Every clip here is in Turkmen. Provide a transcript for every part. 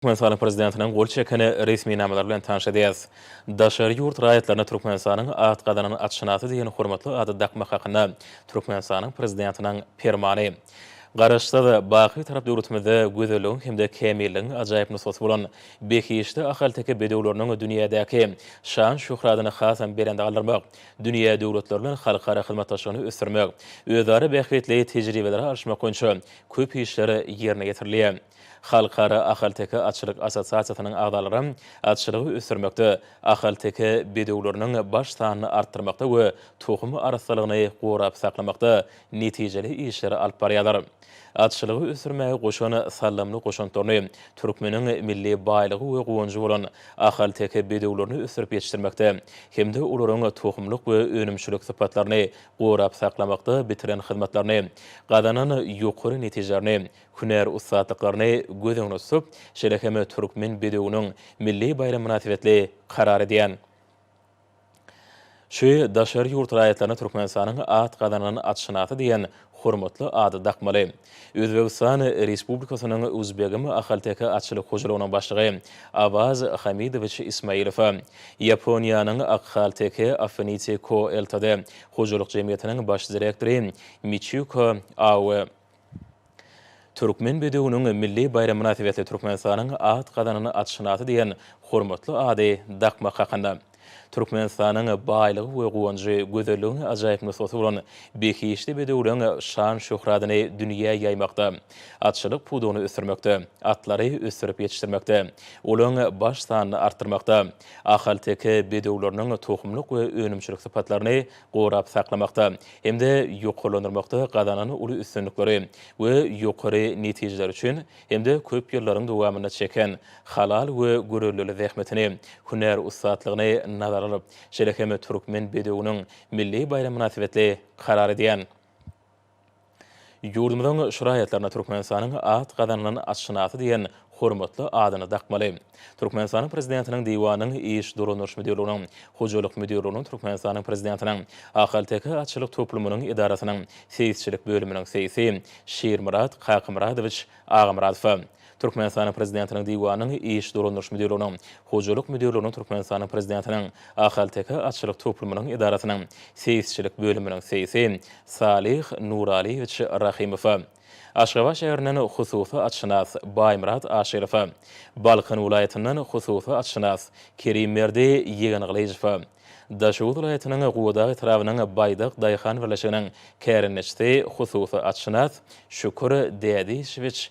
Türkmenistanyň Prezidentiniň gol çeken resminamalary bilen tanyş edýäris. Daşary ýurt raýatlaryna Türkmenistanyň at gazanan atşynasy diýen hormatly ady dakmak hakynda Türkmenistanyň Prezidentiniň Permany. Garaşsyz, baky Bitarap döwletimizde gözelligiň hem-de kämilligiň ajaýyp nusgasy bolan behişdi ahalteke bedewleriniň dünýädäki şan-şöhratyny hasam belende galdyrmak, dünýä döwletleri bilen halkara hyzmatdaşlygyny ösdürmek, özara bähbitli tejribeleri alyşmak boýunça köp işler ýerine ýetirilýär. Halkara ahalteke atçylyk assosiasiýasynyň agzalary atçylygy ösdürmekde, ahalteke bedewleriniň baş sanyny artdyrmakda we tohum arassalygyny gorap saklamakda netijeli işleri alyp barýarlar. Atçylygy ösdürmäge goşan saldamly goşantlaryny, türkmeniň milli baýlygy we guwanjy bolan ahalteke bedewlerini ösdürip ýetişdirmekde hem-de olaryň tohumlyk we önümçilik sypatlaryny gorap saklamakda bitiren hyzmatlaryny, gazanan ýokary netijelerini hünär ussatlyklaryny göz öňüne tutup, şeýle hem Türkmen bedewiniň milli baýramy mynasybetli karar edýän Şu daşary ýurt raýatlaryna Türkmenistanyň at gazanan atşynasy diýen hormatly ady dakmaly. Özbegistan Respublikasynyň Uzbegim ahalteke atçylyk hojalygynyň başlygy Awaz Hamidowiç Ismailowa, Ýaponiýanyň Akhalteke Affinity Co Ltd. Hojalyk jemgyýetiniň baş direktory Miçiko Aoe, Türkmen bedewiniň milli baýram mynasybetli Türkmenistanyň at gazanan atşynasy diýen hormatly ady dakmak hakynda. Türkmenistanyň baýlygy we guwanjy, gözelligiň ajaýyp nusgasy bolan behişdi bedewleň şan-şöhratyny dünýä ýaýmakda, atçylyk pudagyny ösdürmekde, atlary ösdürip ýetişdirmekde, olaryň baş sanyny artdyrmakda, ahalteke bedewleriniň tohumlyk we önümçilik sypatlaryny gorap saklamakda hem-de ýokarlandyrmakda gazanan uly üstünlikleri we ýokary netijeleri üçin hem-de köp ýyllaryň dowamynda çeken halal we görellili zähmetini, hünär ussatlygyny nazara alyp, şeýle hem Türkmen bedewiniň milli baýramy mynasybetli karar edýän. Ýurdumyzyň şraýatlaryna Türkmenistanyň at gazanylan atşynasy diýen hormatly adyny dakmaly. Türkmenistanyň Prezidentiniň Diwanynyň Iş dolandyryş müdirliginiň, Hojalyk müdirliginiň, Türkmenistanyň Prezidentiniň Ahalteke atçylyk toplumynyň edarasynyň seýisçilik bölüminiň seýisi Şirmyrat Kakamyradowiç Agamyradowa, Türkmenistanyň Prezidentiniň Diwanynyň iş dolandyryş müdirliginiň, Hojalyk müdirliginiň Türkmenistanyň Prezidentiniň Ahalteke atçylyk toplumynyň edarasynyň seýisçilik bölüminiň seýisi Salyh Nuralyýewiç Rahymowa, Aşgabat şäherinden hususy atşynas Baýmyrat Aşyrowa, Balkan welaýatyndan hususy atşynas Kerimberdi Ýegengylyjowa, Daşoguz welaýatynyň Gubadag etrabynyň Baýdak daýhan birleşiginiň kärendeçisi hususy atşynas Şükür Dädiçewiç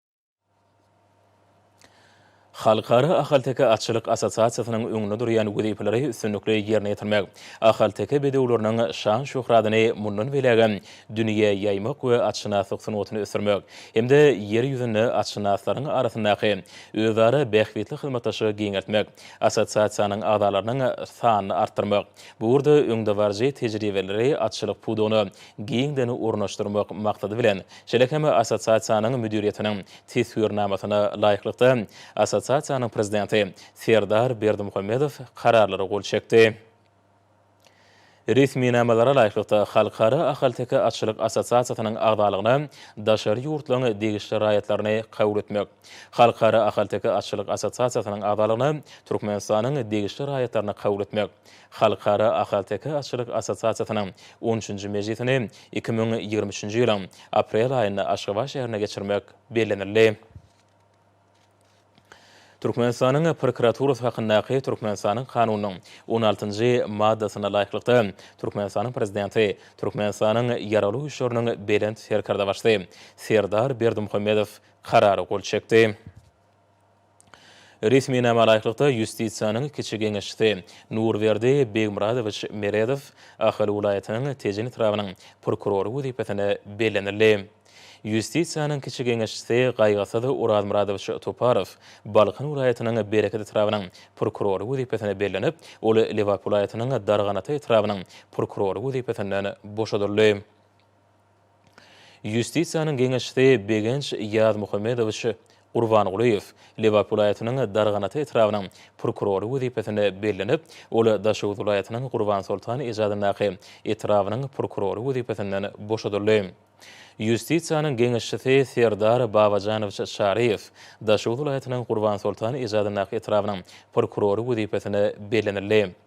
Halkara ahalteke atçylyk assosiasiýasynyň öňünde durýan wezipeleri üstünlikli ýerine ýetirmek, ahalteke bedewleriniň şan-şöhratyny mundan beýlägem dünýä ýaýmak we atşynaslyk sungatyny ösdürmek hem-de Ýer ýüzünde atşynaslaryň arasyndaky özara bähbitli hyzmatdaşlygy giňeltmek, assosiasiýanyň agzalarynyň sanyny artdyrmak, bu ugurda öňdebaryjy tejribeleri atçylyk pudagyna giňden ornaşdyrmak maksady bilen Şeýle hem assosiasiýanyň müdiriýetiniň teswirnamasyna laýyklykda, assosiasiýanyň prezidenti Serdar Berdimuhamedow kararlara gol çekdi. Resminamalara laýyklykda, Halkara ahalteke atçylyk assosiasiýasynyň agzalygyna daşary ýurtlaryň degişli raýatlaryny kabul etmek, Halkara ahalteke atçylyk assosiasiýasynyň agzalygyna Türkmenistanyň degişli raýatlaryny kabul etmek, Halkara ahalteke atçylyk assosiasiýasynyň on üçünji mejlisini iki müň ýigrimi üçünji ýylyň aprel aýynda Aşgabat şäherinde geçirmek bellenildi. Türkmenistanyň prokuraturasy hakyndaky Türkmenistanyň Kanunynyň on altynjy maddasyna laýyklykda, Türkmenistanyň Prezidenti, Türkmenistanyň Ýaragly Güýçleriniň Belent Serkerdebaşysy Serdar Berdimuhamedow Karara gol çekdi. Resminama laýyklykda, Ýustisiýanyň kiçi geňeşçisi Nurberdi Begmyradowiç Meredow Ahal welaýatynyň Tejen etrabynyň prokurory wezipesine bellenildi. Ýustisiýanyň kiçi geňeşçisi Gaýgysyz Orazmyradowiç Toparow Balkan welaýatynyň Bereket etrabynyň prokurory wezipesine bellenip, ol Lebap welaýatynyň Darganata etrabynyň prokurory wezipesinden boşadyldy. Ýustisiýanyň geňeşçisi Begenç Ýazmuhammedowiç Gurbangulyýew Lebap welaýatynyň Darganata etrabynyň prokurory wezipesine bellenip, ol Daşoguz welaýatynyň Gurbansoltan ejadyndaky etrabynyň prokurory wezipesinden boşadyldy. Ýustisiýanyň geňeşçisi Serdar Babajanowiç Çaryýew Daşoguz welaýatynyň Gurbansoltan ejadyndaky etrabynyň prokurory wezipesine bellenildi.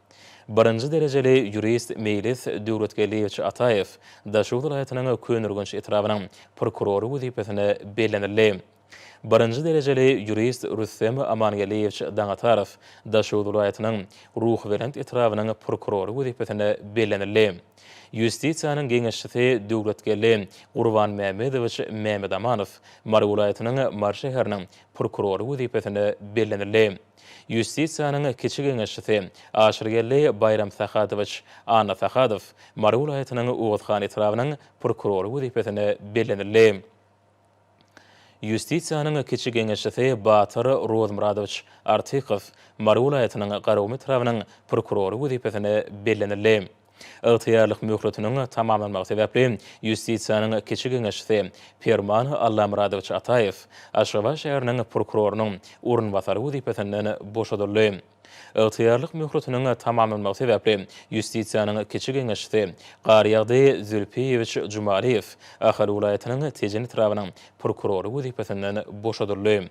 Birinji derejeli ýurist Meýlis Döwletgeldiýewiç Ataýew Daşoguz welaýatynyň Köneürgenç etrabynyň prokurory wezipesine bellenildi. Birinji derejeli ýurist Rüstem Amangeldiýewiç Daňatarow Daşoguz welaýatynyň Ruhubelent etrabynyň prokurory wezipesine bellenildi. Ýustisiýanyň geňeşçisi Döwletgeldi Gurbanmämmedowiç Mämedamanow Mary welaýatynyň Mary şäheriniň prokurory wezipesine bellenildi. Ýustisiýanyň kiçi geňeşçisi Aşyrgeldi Baýramsahadowiç Annasahadow Mary welaýatynyň Oguzhan etrabynyň prokurory wezipesine bellenildi. Ýustisiýanyň kiçi geňeşçisi Batyr Rozmyradowiç Artykow Mary welaýatynyň Garagum etrabynyň prokurory wezipesine bellenildi. Ygtyýarlyk möhletiniň tamamlanmagy sebäpli Ýustisiýanyň kiçi geňeşçisi Perman Allamyradowiç Ataýew Aşgabat şäheriniň prokurorynyň orunbasary wezipesinden boşadyldy. Ygtyýarlyk möhletiniň tamamlanmagy sebäpli Ýustisiýanyň kiçi geňeşçisi Garýagdy Zülpiýewiç Jumaliýew Ahal welaýatynyň Tejen etrabynyň prokurory wezipesinden boşadyldy.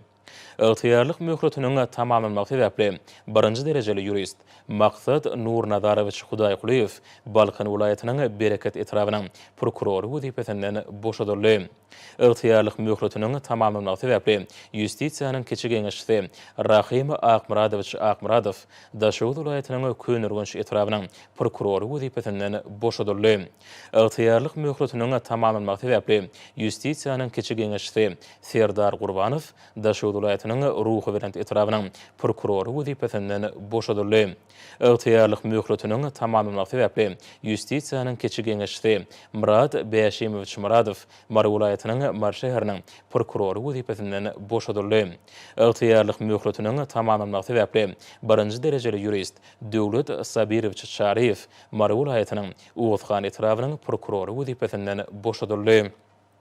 Ygtyýarlyk möhletiniň tamamlanmagy sebäpli, birinji derejeli ýurist Maksat Nurnazarowiç Hudaýkulyýew Balkan welaýatynyň Bereket etrabynyň prokurory wezipesinden boşadyldy. Ygtyýarlyk möhletiniň tamamlanmagy sebäpli, Ýustisiýanyň kiçi geňeşçisi Rahym Akmyradowiç Akmyradow Daşoguz welaýatynyň Köneürgenç etrabynyň prokurory wezipesinden boşadyldy. Ygtyýarlyk möhletiniň tamamlanmagy sebäpli, Ýustisiýanyň kiçi geňeşçisi Serdar Gurbanow Daşoguz welaýatynyň Ruhubelent etrabynyň prokurory wezipesinden boşadyldy. Ygtyýarlyk möhletiniň tamamlanmagy sebäpli Ýustisiýanyň kiçi geňeşçisi Myrat Bäşimowiç Myradow Mary welaýatynyň Mary şäheriniň prokurory wezipesinden boşadyldy. Ygtyýarlyk möhletiniň tamamlanmagy sebäpli birinji derejeli ýurist Döwlet Sabirowiç Çaryýew Mary welaýatynyň Oguzhan etrabynyň prokurory wezipesinden boşadyldy.